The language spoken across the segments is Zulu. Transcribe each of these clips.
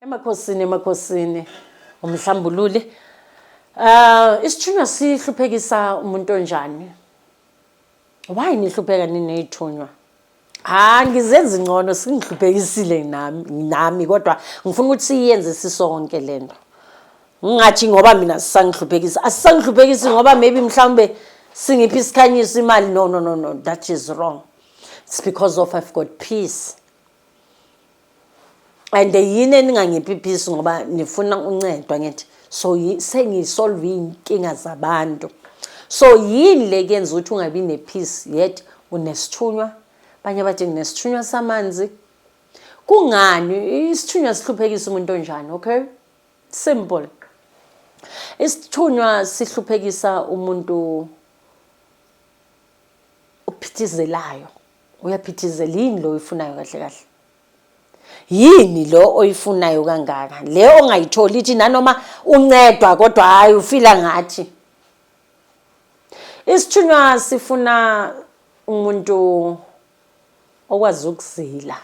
Emakhosini emakhosini umhlambululi. Ah uh, isithunywa sihluphekisa umuntu onjani? Why nihlupheka ninezithunywa? Ah ngizenza ingcono singihluphekisile nami nami kodwa ngifuna ukuthi siyenze sisonke lento. Ngingathi ngoba mina sisangihluphekisa. Asisangihluphekisi ngoba maybe mhlawumbe singiphi isikhanyiso imali no no no no that is wrong. It's because of I've got peace. and yini eningangiphiphisi ngoba nifuna uncedwa ngithi so sengisolve iy'nkinga zabantu so yini le kuyenza ukuthi ungabi ne-peace yet unesithunywa abanye bathi nginesithunywa samanzi kungani isithunywa sihluphekisa umuntu onjani okay simple isithunywa sihluphekisa umuntu ophithizelayo Uyaphithizela yini lo oyifunayo kahle kahle? Yini lo oyifunayo kangaka? Le ongayitholi ithi nanoma uncedwa kodwa hayi ufila ngathi. Isithunywa sifuna umuntu okwazi ukuzila.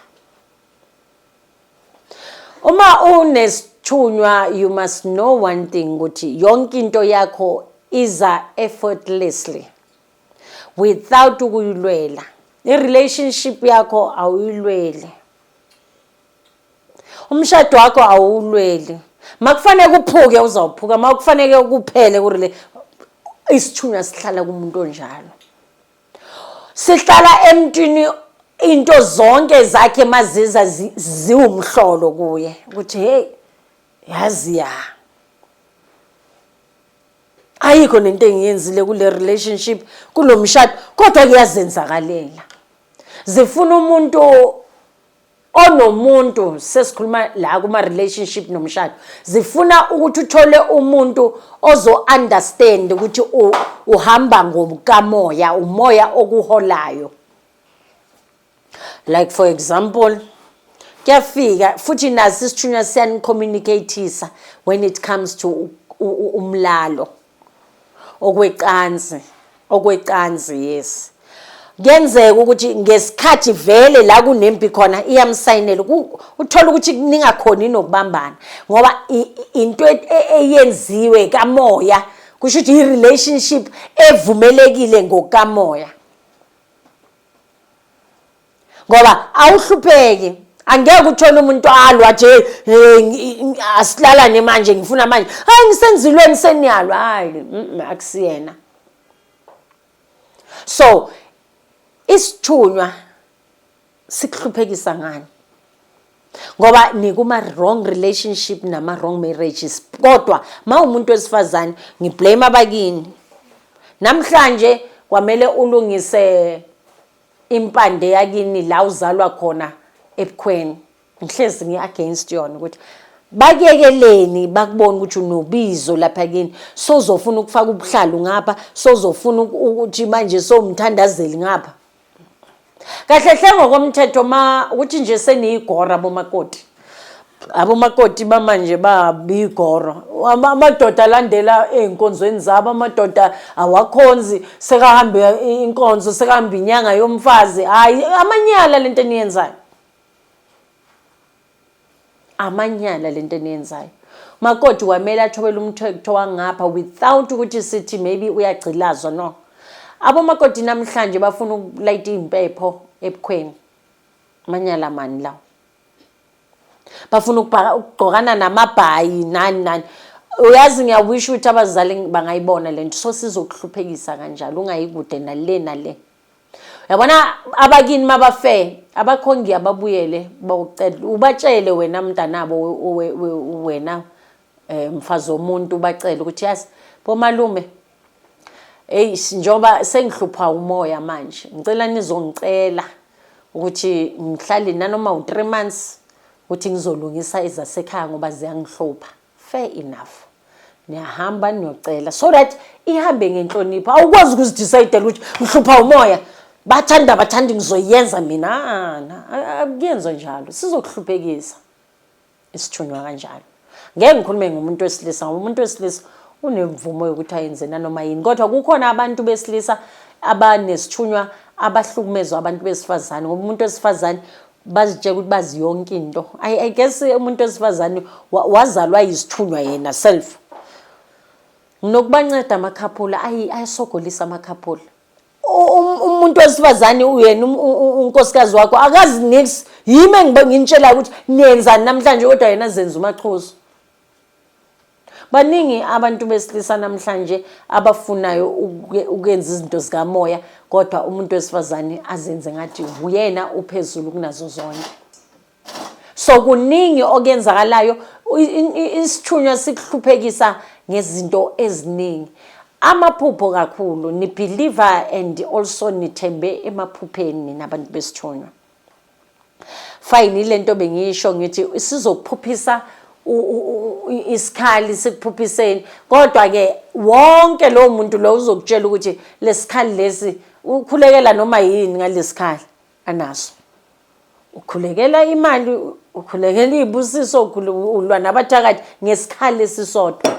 Uma unesithunywa you must know one thing ukuthi yonke into yakho iza effortlessly. without ukuyilwela i-relationship yakho awuyilweli umshado wakho awuwulweli makufanele kuphuke uzawuphuka makufanele kuphele kurile isithunywa sihlala kumuntu onjalo sihlala emntwini into zonke zakhe maziza ziwumhlolo kuye ukuthi hey yazi ya ayikho nento engiyenzile kule relationship kulo mshado kodwa kuyazenzakalela zifuna umuntu onomuntu sesikhuluma la kuma relationship nomshado zifuna ukuthi uthole umuntu ozo understand ukuthi uhamba ngokukamoya umoya okuholayo like for example kuyafika futhi nazi isithunywa siyanicommunicateisa when it comes to umlalo okwecansi okwecansi yes kuyenzeka ukuthi ngesikhathi vele la kunempi khona iyamsayinela uthola ukuthi ningakhoni nokubambana ngoba into e, e, eyenziwe kamoya kusho ukuthi i-relationship evumelekile ngokukamoya ngoba awuhlupheki angeke uthole umuntu alwa nje asilalane manje ngifuna manje hayi ngisenzilweni seniyalwa hayi akusiyena so isithunywa sikuhluphekisa ngani ngoba nikuma wrong relationship nama wrong marriages kodwa mawumuntu wesifazane ngiblame abakini namhlanje kwamele ulungise impande yakini la uzalwa khona ebukhweni ngihlezi ngi against yona ukuthi bakuyekeleni bakubona ukuthi unobizo lapha kini sozofuna ukufaka ubuhlalu ngapha sozofuna ukuthi manje somthandazeli ngapha kahle hle ngokomthetho ma ukuthi nje seniyigora bomakoti abomakoti bamanje babigoro amadoda alandela ezinkonzweni zabo amadoda awakhonzi sekahambe inkonzo sekahambe inyanga yomfazi hayi amanyala lento eniyenzayo amanyala lento eniyenzayo makoti kwamele athobele umthekutho wangapha without ukuthi sithi maybe uyagcilazwa no abomakoti namhlanje bafuna ukulayita iy'mpepho ebukhweni amanyala mani lawo bafuna ukugqokana namabhayi nani nani uyazi ngiyawisho ukuthi abazali bangayibona le nto so sizokuhluphekisa kanjalo ungayikude nale nale yabona abakini mabafe abakho ngiyababuyele bawucela ubatshele wena mntanabo wena eh, mfazi womuntu ubacela ukuthi yazi bomalume eyi njengoba sengihlupha umoya manje ngicela nizongicela ukuthi ngihlale nanoma u-three months ukuthi ngizolungisa ezasekhaya ngoba ziyangihlupha Fair enough. Niyahamba niyocela so that ihambe ngenhlonipho. Awukwazi ukuzidecide ukuthi ngihlupha umoya. Bathanda bathanda ngizoyenza mina. Ah, na, a- Akuyenzo njalo. Sizokuhluphekisa. Isithunywa kanjalo. Ngeke ngikhulume ngomuntu wesilisa ngoba umuntu wesilisa unemvumo yokuthi ayenze nanoma yini. Kodwa kukhona abantu besilisa abanesithunywa abahlukumezwa abantu besifazane ngoba umuntu wesifazane bazitshela ukuthi bazi yonke into i guess umuntu wesifazane wazalwa yisithunywa yena self nokubanceda amakhaphula ayesogolisa amakhaphula um, umuntu wesifazane uyena um, um, unkosikazi wakho akazi nix yimi engibengintshela ukuthi niyenzani namhlanje kodwa yena zenza umachozo baningi abantu besilisa namhlanje abafunayo ukwenza izinto zikamoya kodwa umuntu wesifazane azenze ngathi uyena uphezulu kunazo zonke so kuningi okenzakalayo isithunywa sikuhluphekisa ngezinto eziningi amaphupho kakhulu nibhiliva and also nithembe emaphupheni nina bantu besithunywa Fine ilento bengiyisho ngithi sizokuphuphisa isikhali sikuphuphiseni kodwa ke wonke lo muntu lo uzokutshela ukuthi lesikhali lesi ukhulekela noma yini ngalesikhali anaso ukhulekela imali ukhulekela izibusiso ulwa nabathakathi ngesikhali esisodwa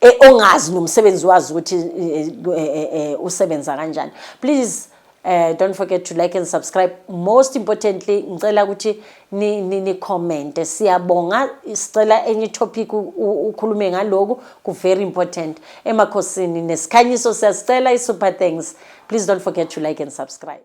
e, ongazi nomsebenzi wazi ukuthi e, e, usebenza kanjani please Uh, don't forget to like and subscribe most importantly ngicela ukuthi nicommente siyabonga sicela enye itopic ukhulume ngaloku ku-very important emakhosini nesikhanyiso siyasicela i-super thanks please don't forget to like and subscribe